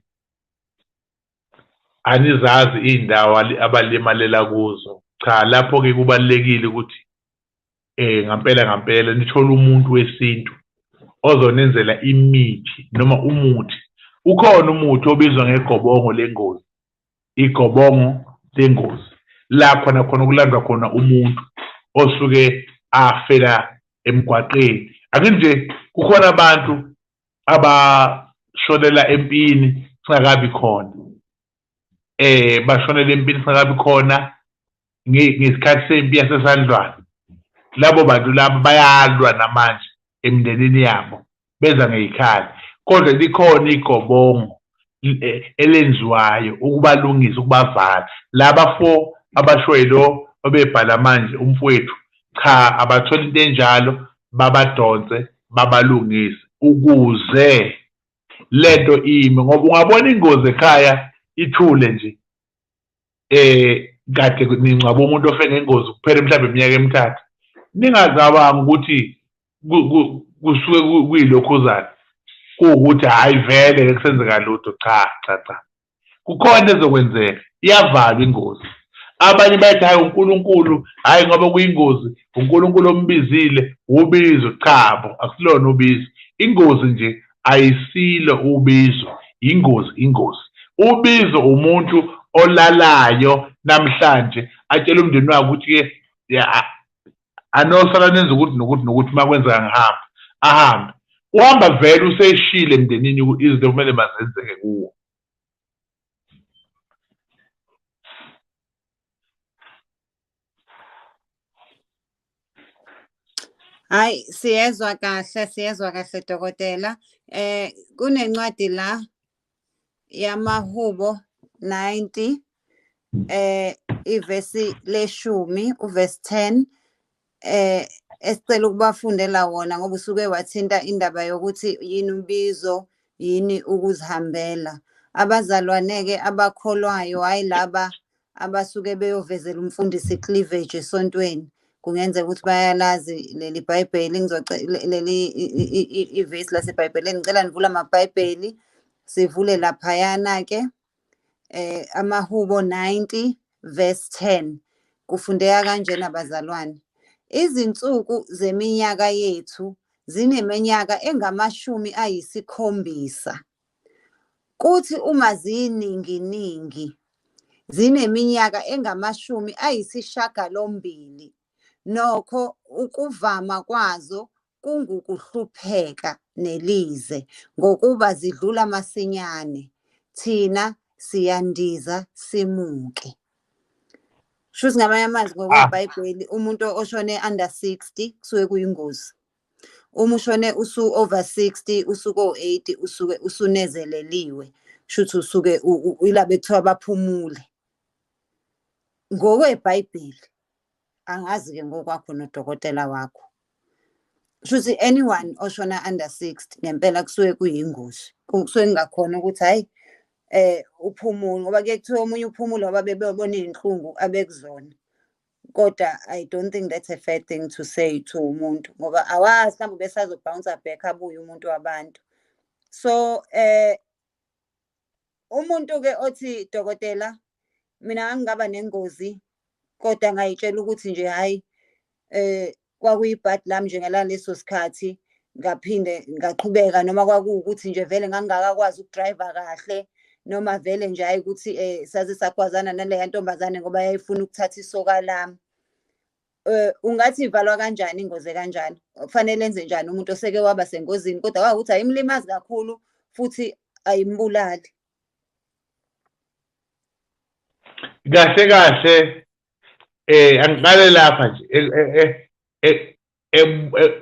anizazi izindawo abalimalela kuzo cha lapho ke kubalekile ukuthi eh ngampela ngampela nithola umuntu wesintu ozonenzela imithi noma umuthi ukhona umuthi obizwa ngegobongo lengozi igobongo lengozi la khona khona kulandwa khona umuntu osuke afela emgwaqeni ake nje kukhona abantu abashonela empini singakabi khona eh bashonela empini singakabi khona ngesikhathi sempi yasesandlwane labo bantu labo bayalwa namanje emindenini yabo beza ngeyikhala kodwa likhona igobongo e, elenziwayo ukubalungisa ukubavala laba fo abashwelo obebhala manje umfowethu cha abathola into enjalo babadonse babalungise ukuze lento ime ngoba ungabona ingozi ekhaya ithule nje eh kade ningcwaba umuntu ofe ngengozi kuphele mhlawumbe iminyaka emithathu ningazabanga ukuthi kusuke kuyilokhuzana kuwukuthi hhayi vele ke kusenzeka lutho cha cha cha kukhona ezokwenzeka iyavalwa ingozi abanye bathi hhayi unkulunkulu hhayi ngoba kuyingozi unkulunkulu ombizile wubizo chabo akusilona ubizo ingozi nje ayisilo ubizo yingozi ingozi ubizo umuntu olalayo namhlanje atshela umndeni wakhe ukuthi ke anosala nenza ukuthi nokuthi nokuthi uma kwenzeka ngihamba ahambe uhamba vele useshile emndenini izinto kumele mazenzeke kuwo Hayi siyezwa kahle siyezwa kahle dokotela eh kunencwadi la yamahubo 90 eh ivesi leshumi uvesi 10 eh esicela ukubafundela wona ngoba usuke wathinta indaba yokuthi yini umbizo yini ukuzihambela abazalwane-ke abakholwayo hhayi laba abasuke beyovezela umfundisi cleavage esontweni kungenzeka ukuthi bayalazi leli bhayibheli leli ivesi lasebhayibheleni ngicela nivula amabhayibheli sivule laphayana-ke eh amahubo 90 verse 10 kufundeka kanjena bazalwane izinsuku zeminyaka yethu zineminyaka engamashumi ayisikhombisa Kuthi uma ziyininginingi zineminyaka engamashumi ayisishagalombili, nokho ukuvama kwazo kungukuhlupheka nelize ngokuba zidlula masinyane, thina siyandiza simuke. Shuthi ngamanye amazwi ngokwebhayibheli umuntu oshone under 60 kusuke kuyingozi. uma ushone usu over 60 usuke o80 usuke usunezeleliwe shuthi usuke ila bekuthiwa baphumule ngokwebhayibheli angazi ke ngokwakho nodokotela wakho shuthi anyone oshona under 60 ngempela kusuke kuyingozi kusuke kungakhona ukuthi hayi eh uphumule ngoba ke kuthiwa omunye uphumule ngoba bebebona izinhlungu abekuzona kodwa i don't think that's a fair thing to say to umuntu ngoba awazi mhlawumbe besazobhouncer back abuye umuntu wabantu so eh umuntu-ke othi dokotela mina ngangingaba nengozi kodwa ngayitshela ukuthi nje hhayi eh kwakuyibhadi lami nje ngaleso sikhathi ngaphinde ngaqhubeka noma kwakuwukuthi nje vele ngangingakakwazi ukudrayiva kahle noma vele nje hayi ukuthi um eh, saze sagwazana naleya ntombazane ngoba yayifuna ukuthatha isoka lami um ungathi ivalwa kanjani ingozi kanjani kufanele enze njani umuntu oseke waba sengozini kodwa kwakukuthi ayimlimazi kakhulu futhi ayimbulali kahle kahle eh angiqale lapha nje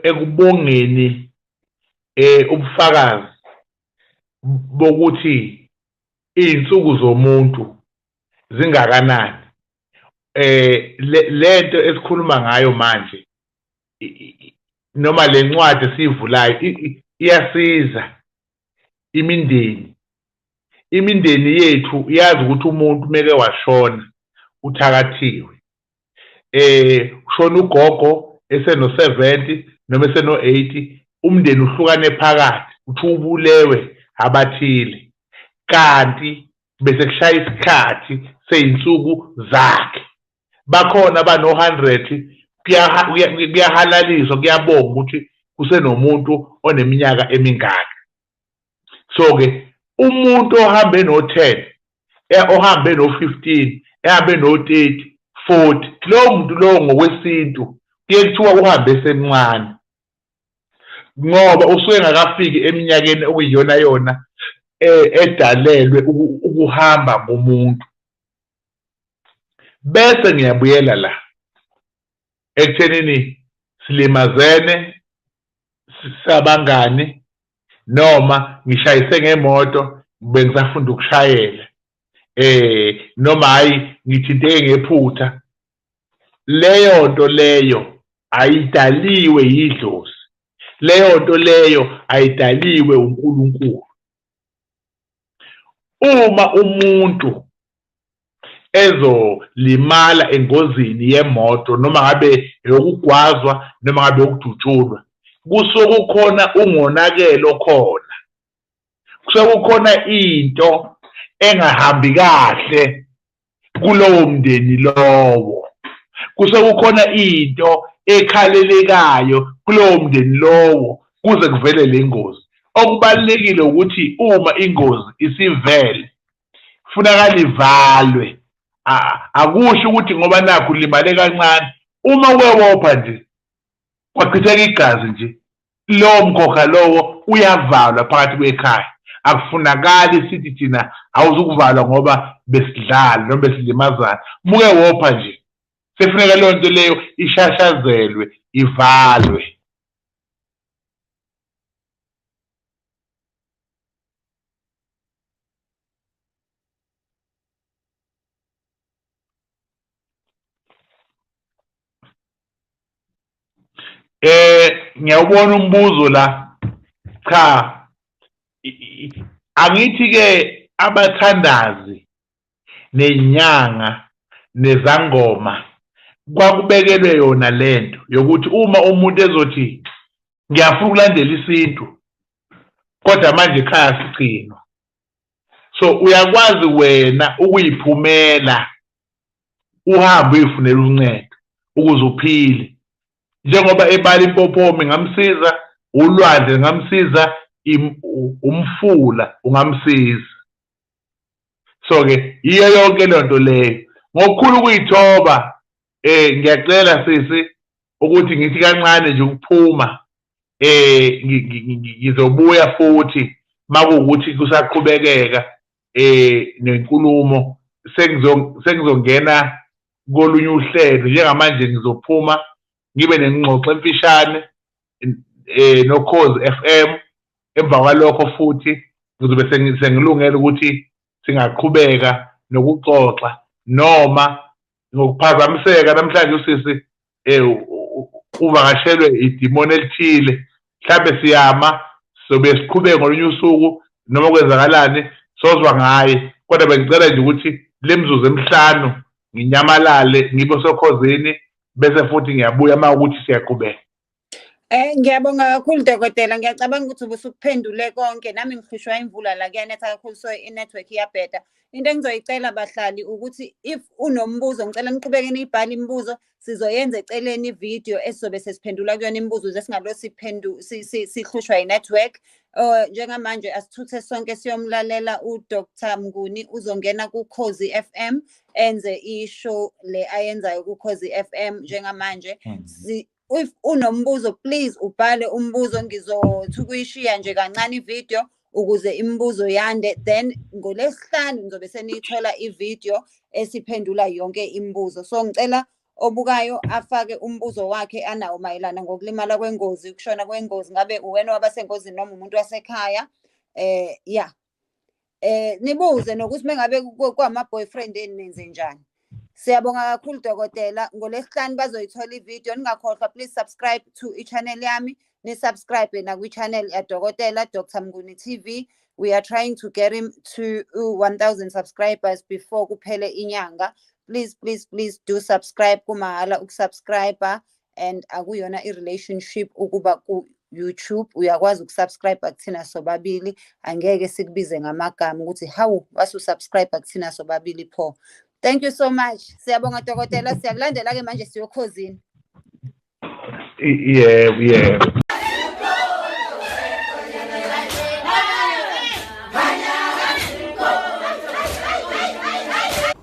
ekubongeni eh ubufakazi bokuthi izinsuku zomuntu zingakanani eh lento esikhuluma ngayo manje noma lencwadi esivulayo iyasiza imindeni imindeni yethu iyazi ukuthi umuntu meke washona uthakathiwe eh ushona ugogo eseno 70 noma eseno 80 umndeni uhlukane phakathi uthi ubulewe abathile kanti bese kushaya isikhathi seyinsuku zakhe bakhona abano-hundred kuyahalaliswa kuyabonga ukuthi kusenomuntu oneminyaka emingaka so-ke umuntu ohambe no-ten e, ohambe no-fifteen ehambe no-thirty forty lowo muntu lowo ngokwesintu kuye kuthiwa uhambe esemncane ngoba usuke engakafiki eminyakeni okuyiyona yona e, edalelwe ukuhamba komuntu bese ngiyabuyela la ekuthenini silimazene sabangani noma ngishayise ngemoto bengisafunda ukushayela eh noma hayi ngithinteke ngephutha leyo nto leyo ayidaliwe yidlozi leyo nto leyo ayidaliwe uNkulunkulu Uma umuntu ezolimala engozini yemoto noma ngabe eyokugwazwa noma ngabe yokudutshulwa kusuke kukhona ungonakele okhona kusuke kukhona into engahambi kahle kulowo mndeni lowo kuse kukhona into ekhalelekayo kulowo mndeni lowo kuze kuvele le ngozi okubalulekile ukuthi uma ingozi isivele funakala ivalwe akusho ukuthi ngoba nakho ulimale kancane uma kwewopha nje kwachitheka igazi nje lowo mkhokha lowo uyavalwa phakathi kwekhaya akufunakali sithi thina awuzukuvalwa ngoba besidlala noma besilimazana muke wopha nje sefuneka leyo nto leyo ishashazelwe ivalwe eh ngiyawubona umbuzo la cha angithi ke abathandazi nenyanga nezangoma kwakubekelwe yona lento yokuthi uma umuntu ezothi ngiyafuna ukulandela isintu kodwa manje ekhaya sigcinwa so uyakwazi wena ukuyiphumela uhambe uyifunela uncedo ukuze uphile njengoba ebala impophoma ingamsiza ulwandle lingamsiza umfula ungamsiza so-ke yiyo yonke loo nto leyo ngokukhulu ukuyithoba eh ngiyacela sisi ukuthi ngithi kancane nje ukuphuma eh ngizobuya futhi makuwukuthi kusaqhubekeka eh nenkulumo sengizongena kolunye uhlelo njengamanje ngizophuma ngibe nengxoxo emfishane eh nokhozi FM emva kwalokho futhi ngizobe sengilungela ukuthi singaqhubeka nokuxoxa noma ngokuphazamiseka namhlanje usisi eh uvakashelwe idimoni elithile mhlambe siyama sobe siqhubeke ngolunye usuku noma kwenzakalani sozwa ngaye kodwa bengicela nje ukuthi le mzuzu emihlanu nginyamalale ngibe sokhozini bese futhi ngiyabuya uma ukuthi siyaqhubeka Eh ngiyabonga kakhulu dokotela ngiyacabanga ukuthi ubusukuphendule konke nami ngihlushwa imvula la kuyanetha kakhulu so i-network iyabheda into engizoyicela bahlali ukuthi if unombuzo ngicela niqhubeke niyibhale imibuzo sizoyenza eceleni ividiyo esizobe sesiphendula kuyona imibuzo ze singalo sihlushwa yi-network um njengamanje asithuthe sonke siyomlalela udr mnguni uzongena kukhozi f m enze ishow le ayenzayo kukhozi f m njengamanje hmm. if unombuzo please ubhale umbuzo ngizothi ukuyishiya nje kancane ivideo ukuze imibuzo yande then ngolesihlanu ngizobe seniyithola ivideo esiphendula yonke imibuzo so ngicela obukayo afake umbuzo wakhe anawo mayelana ngokulimala kwengozi ukushona kwengozi ngabe uwena wabasengozini noma umuntu wasekhaya eh ya eh nibuze nokuthi mengabe kwama boyfriend eni nenze njani Siyabonga kakhulu dokotela ngolesihlanu bazoyithola ivideo ningakhohlwa please subscribe to i-channel yami ni subscribe nakwi-channel yadokotela Dr Mnguni TV we are trying to get him to 1000 subscribers before kuphele inyanga please please please do subscribe kumahhala ukusubscriber and akuyona i-relationship ukuba ku-youtube uyakwazi ukusubscribe kuthina sobabili angeke sikubize ngamagama ukuthi hawu wasusubscribe kuthina sobabili pho thank you so much siyabonga dokotela siyakulandela-ke manje siyokhozini yebo yebo